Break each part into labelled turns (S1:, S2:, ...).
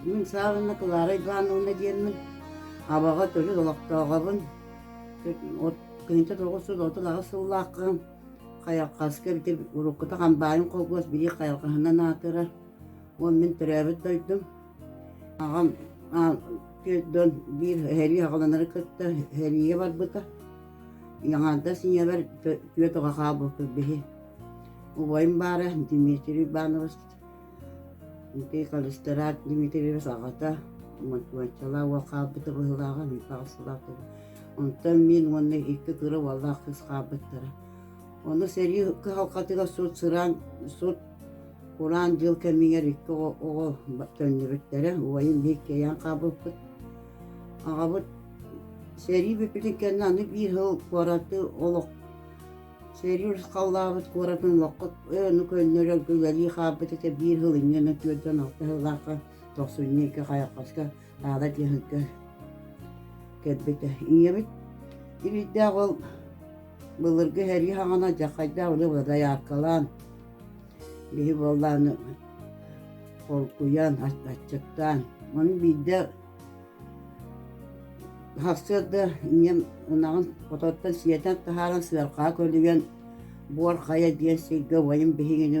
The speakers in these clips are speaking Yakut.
S1: Мин Саврина Клара Ивановна диэммин, абаҕа төрүт олохтооҕобун. Кинитэ тоҕус сыл отут аҕыс сыллааххын хайалхаска бити уруккута хамбаайын холкуос билии хайалхаһынан аатырар. Уон мин төрөөбүт дойдум. Аҕам дьон биир сэрии аҕаланары кытта сэрийэ барбыта. Яңаардас ийэбэр түөрт оҕо хаалбыппыт биһи. Убайым баара Дмитрий Иванович, ити Калистарат Дмитриевич аҕата, Мотуоччалаа уол хаалбыта быһыылааҕа, Михаил Сулатов. Онтон мин уонна икки кыра уоллаах кыыс хаалбыттара. Ону сэрии кыһалҕатыгар сут сыраан сут кураан дьыл кэмигэр икки оҕо төннүбүттэрэ убайын лиик кэйэн хаалбыппыт аҕабыт сэрии бүппүтүн кэннэ аны биир сыл куораты олох сэрии ырысхаллаабыт куоратын олоххут өну көннөрөргө үлэлии хаалбыт этэ биир сыл иннинэ түөртэн алта сыллаахха тохсунньу икки хайалҕаска наада диэхиккэ кэлбитэ ийэбит илиитдээх ол былыргы һэрии хаҕана дьаххайдаах били дояркалаан биһи буоллааны холкуйан аччыктаан маны биирдэ хахсыарда ийэм ынаҕын хототтон сиэтэн таһааран сыарҕаҕа көлүйэн буор хайа диэн сиргэ убайым биһигини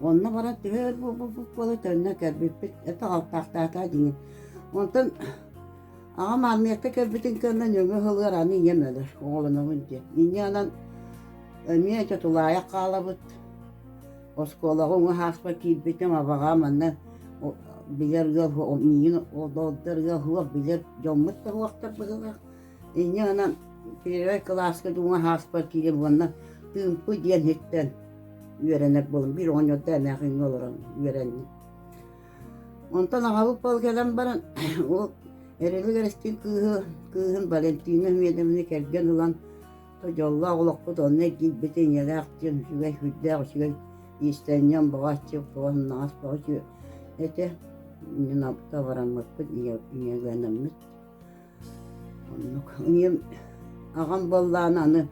S1: Онно баран төһө өр буолбуппут буолуо төннө кэлбиппит это алтаахтаатаа дии. Онтон аҕам армията кэлбитин кэннэ нөҥө сылыгар аны ийэм өлөр, оҕолонобун диэн. Инньэнэн эмиэ чэ тулаайах хаалабыт. Оскуолаҕа уҥа ааспар киирбитим, абаҕам манна билэр ыал миигин олордор ыал суох билэр дьоммут да суохтар быһыылаах. Инньэ гынан первый кылааска дууҥа хааспар киирэн уонна тыымпы диэн иһиттэн үөрэнэр буолум. Биир оҕонньордо эмээхиҥҥэ олорон үөрэнним. Онтон аҕабыт пал кэлэн баран ол Эрилик Эристиин кыыһы кыыһын Валентина Медовны кэргэн ылан дьоллоох олохпут онно эргийбит ийэлээх диэн үчүгэй үрдээх үчүгэй иистэнньэн баҕаччы баҕаннаҕас баҕаччы этэ иннинэ табараммыппыт ийэлэнэммит Оннук. Ийэм, аҕам буоллаан аны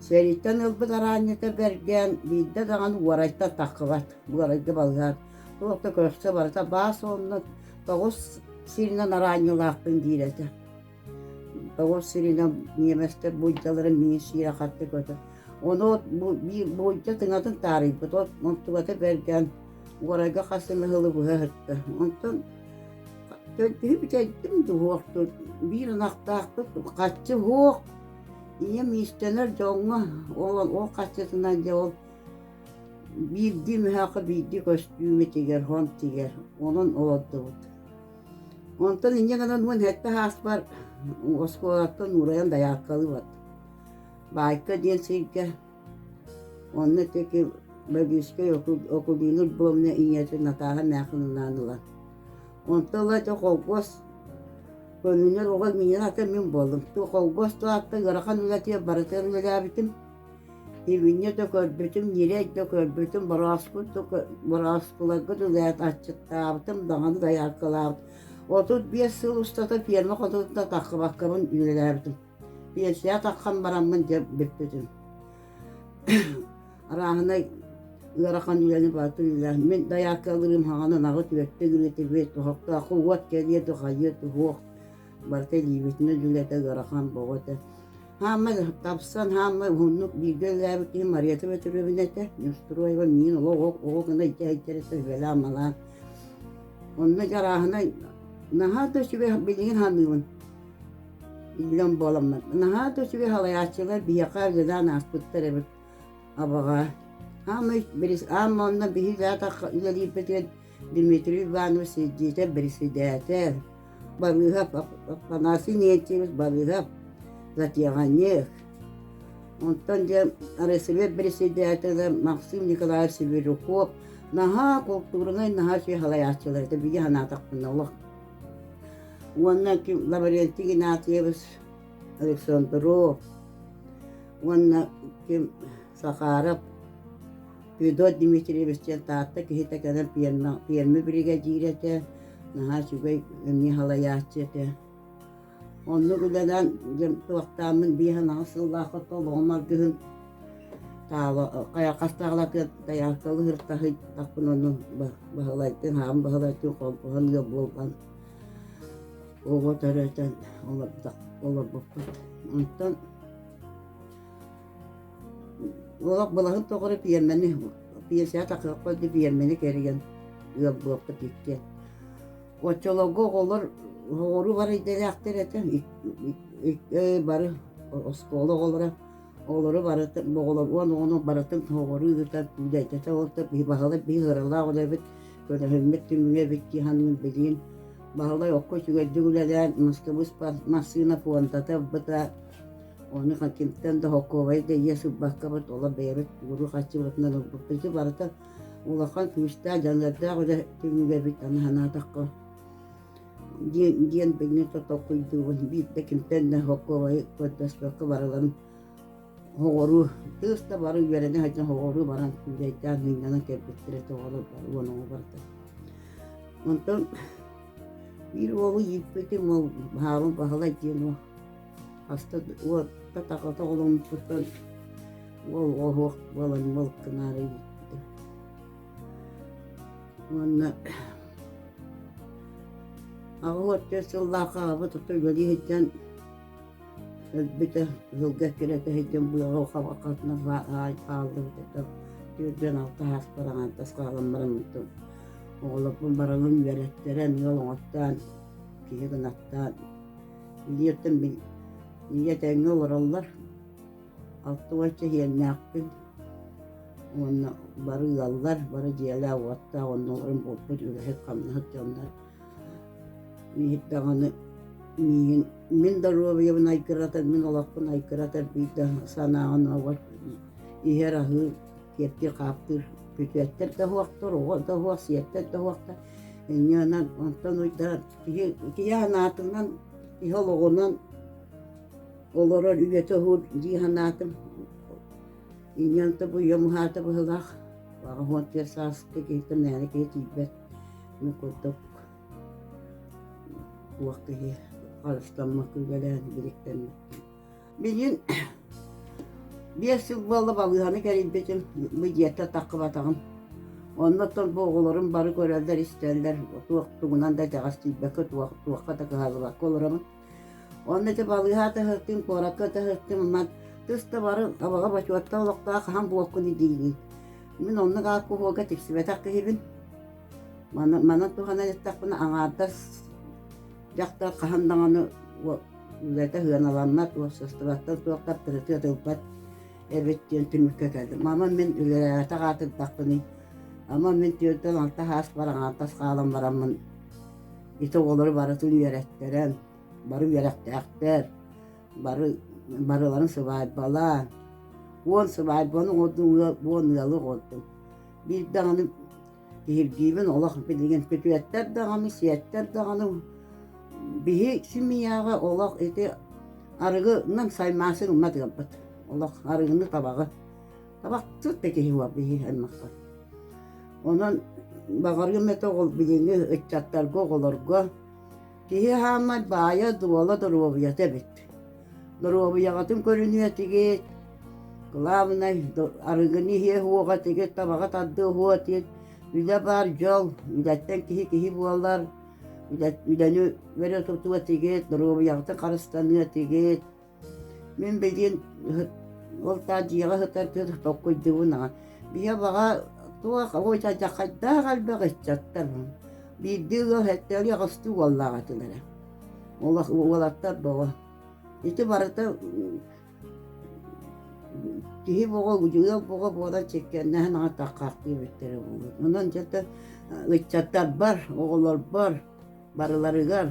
S1: сэрииттэн ылбыт араанньыта бэргээн биирдэ даҕаны уорайта таххыбат, уорайга балыгар. Туох да көрсө барыта баас онно тоҕус сиринэн араанньылаахпын диир этэ. Тоҕус сиринэн ньиэмэстэр буулдьаларын миин сиирэ хатта көтө. Ону от бу биир буулдьа тыҥатын таарыйбыт, от онтубата бэргээн уорайга хас эмэ ылы быһа сытта. Онтон Киһи бүтэйдим дуһуохтун, биир ынахтаахпыт харчы суох, ийэм иистэнэр дьоҥҥо, ол ол харчытынан дьэ ол биирдии мөһөөкө биирдии көстүүмүтүгэр, хонтигар онон олордубут. Онтон инньэ гынан уон сэттэ сааспар оскуолаттан уурайан дояркалыыбыт. Баайка диэн сиргэ Онно итии Бадьыыскай Окулина Львовна ийэтин Натааһа Мээхилилээн ылан Онто ыла ити холкуос көнүнэр оҕо миигин ата мин буоллум. Ту холкуос туһаттан ыарахан үлэтигэр барытыгар үлэлээбитим. Ивиня да көрбүтүм, Нирей да көрбүтүм, бороскут да кө- бороскуларгыт үлэһит аччыктаабытым, даҕаны дояркалаабыт. Отут биэс сыл устата ферма хотутунда таххыбаккабын үлэлээбитим. Иэсээ тархан бараммын дьэ бүппүтүм. Арааһынай ыарахан үлэни барытын илэр. Мин дояркалырым хаҕаны наҕыт үөттэ гиритибит, тоһоктооху уот кэлиэ духайыа туһуох. Барыта илиибитинэн үлэтэ ыарахан боҕо этэ. Хаамма тапсан хаамма уһуннук бииргэ үлээбит киһи Мариета Петровна этэ. Нюстроева миин олох ол ол гына ичэ ичэрэтэ үһүөлээн малаан. Онно жарааһынай наһаа да сүбэ билигин ханыыбын. Иллэҥ буоламмын. Наһаа да үчүгэй салайааччылар биһиэхэ дьадаан ааспыттар эбит. Абаҕа. Аамый бирис аам онно биһиги атахха үлэлиирбитигэр Дмитрий Иванович сиддиитэ бэрэсидээтэл. Балыыһап Афанасий Нентьевич Балыыһап затиаҕанньык. Онтон диэн РСВ бэрэсидээтэлэ Максим Николаевич Северюков наһаа култуурунай наһаа үчүгэй салайааччылар этэ бии санаатахпына олох уонна Лаврентий Игнатьевич Александров уонна ким Сахаров Федор Дмитриевич диэн Таатта киһитэ кэлэн пиэрмэ, пиэрмэ биригэдьиир этэ, наһаа үчүгэй эмиэ халайааччы этэ Оннук үлэнэн туохтааммын биир анаҕыс сыллаах оттолоҕум аргыһын таала хайаххастаҕалакыт тайааккалыыр таһыйтахпын ону Баһылайтан Хаан Баһылайтан холбоһон ыал буолан оҕо төрөтөн олорбуппут. Онтон олох былаһын тоҕура пиэрмэни пиэрсэҕэ такыахха дии пиэрмэни кэрийэн ыал буоппут иккиэн Оччолорго оҕолор оҕолору барайдалаахтар этэ бары оскуола оҕолоро оҕолору барыта оҕолор уон оҕону барытын оҕолору ыытан дайдата олордо баһылай биир ыаралаах үлэ эбит көрөһүммүт түмүгэ эбит дии ханнык билиин баһылай окко үчүгэйдик үлэлээн Москубы массыына пуондата быта оны кимтэн да холкуобай да ийэ сылбаккабыт олор бэйэбит уруу хаччыбытынан ылбыппыт барыта улахан күүстээх дьаллардаах үлэ түмүгэбит аны санаатахха диэн диэн билинэ тотохуйдуубун биирдэ кимтэн да хоккуобайы көрдөспөккө барыларын оҕоруу тыыс да бары үөрэнэ сылдьан оҕоруу баран күүлэйдээн миҥнэнэн кэлбиттэрэ тоҕолор уон оҕо барда онтон биир уолу ииппитим ол баһаалым баһылай диэн уол Хаста уоттатаҕыта оломмутун уол оһуох буолан мыл кынаары ииппитэ уонна аҕа уоттуот сыллаахха аҕабыт ото үлэлии сылдьан өлбүтэ кыһылга эккирэтэ сылдьан быаҕа хабахатынан хааллыбыт ото түөрдүөн алта сааспар аҥаан тас хаалан баран мутум оҕолорбун баралын үөрэттэрэн ыал оҥоттоон киһи гынаттаан Билиэртэн мин ийэ этэҥҥэ олороллор. Алта уон чэһиэннээхпин уонна бары ыаллар, бары дьиэлээх, уоттаах, оннуларын буолбут үлэһит-хамнаһыт дьоннор. Биир даҕаны миигин мин доруобуйабын айгыратар, мин олохпун айгыратар биир да санааҕын ууга иһэр аһыыр, киэптиир-хаптыыр бүтүөттэр да уһуохтар, оҕо да уһуох, сиэттэр да уһуохтар. Инньэ онон онтон уйдаран киһи санаатынан, киһи олоҕунан олорор үйэтэ уһуур дии санаатым. Инньэн табыйам уһаата быһылаах Аҕаһуон тиэр сааскы киһитэ мээнэ киһи тиийбэт. Мин курдук туох киһи харыстаммакка үлэлээн бириктэммит Билигин биэс сыл буолла балыыһаны кэлимпитим, бу дьиэтэ таххыбатаҕым. Онно оттон бу оҕолорум бары көрөллөр-истэллэр, туох тугунан да дьаҕас тиийбэккэ туох туохха да кыһаллыбакка олоробун. Онно ити балыыһа таһыттым, куоракка таһыттым, манан тыс да бары абаҕа бочуоттан олохтоох хаһан буолкуну диигин. Мин оннук ааккуһуога тиксибэтэх киһибин. Манан манан туһанан эттэхпинэ аҥаардас дьахтар хаһан даҕаны үлэтэ сыаналаммат, уопсастыбаттан туох таптырытыат ылбат эбит диэн түмүккэ кэлдим. Ама мин үлэлээбэтэх аатырдахпыный, ама мин түөртэн алта саас бараҥаантас хаалан бараммын ити оҕолору барытын үөрэттэрэн, бары үөрэхтээхтэр, бары барыларын сыбаайбалаан, уон сыбаайбаны оҕордум, уон ыалы оҕордум. Биир даҕаны Киһиргиибин олох билигин күтүөттэр даҕаны, сиэттэр даҕаны биһи симийээҕи олох ити арыгынан саймаасыр уммат ыалбыт. Олох арыгыны табаҕы. Табахтыт киһи буол биһи аймахха. Онон баҕарыым этэ ол билиҥҥи ыччаттарга, оҕолорго Киһи аһааммат баайа дуола доруобуйата эбит. Доруобуйаҕытын көрүнүө тигит, главное, арыгыны иһиэ уоҕа тигит, табаҕа тардыы уо тигит. Үлэ баар дьол, үлэттэн киһи киһи буолар, үлэни өрө тутуо тигит, доруобуйаҕытын харыстаныа тигит. Мин билигин ол таах дьиэҕэ сытардыыр толкуйдуубун аҕа Биһиэхэ баҕа туох ой дьаххайдаах элбэх ыччаттар биирдии ыал эттэри аҕыстыы уоллаах этилэрэ уолаттар бөҕө ити барыта киһи бөҕө ыал бөҕө буолан чиккэннэһэн аҕа таххахтыы бүттэрэ буолуо онон дьэ ыччаттарбар оҕолорбор барыларыгар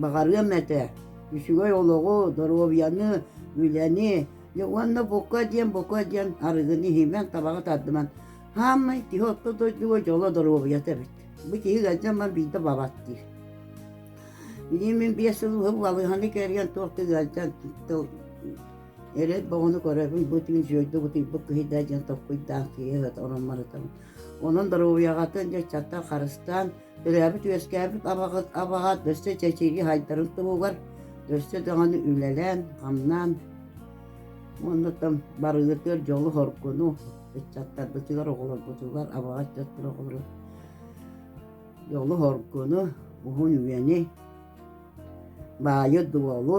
S1: баҕарыам этэ үчүгэй олоҕу доруобуйаны үлэни уонна бука диэн бука диэн арыгыны иһимэн табаҕы тардыман хааммай киһи орто дойдуга дьоло доруобуйата эбит бу киһи ыалдьаммын биирдэ бабат диир билиим мин биэс сыл балыыһаны кэрийэн туохта ыалдьан эрэл боҕону көрөбүн бу түүн сүөйдү бутуйбут киһидэ диэн топпуйдаан киһи ороммарытабын онон доруобуйаҕытын дьэ чаттан харыстаан Төрөөбүт-үөскээбит абаҕа, абаҕа өссө чэчирии хайдарын туһугар өссө даҕаны үлэлээн, хамнаан уонна барыытыгар дьолу-хоргуну ыччаттарбытыгар, оҕолорбутугар, абаҕа ыччаттар оҕолору дьолу-хоргуну, уһун-үйэни, баайы-дуолу,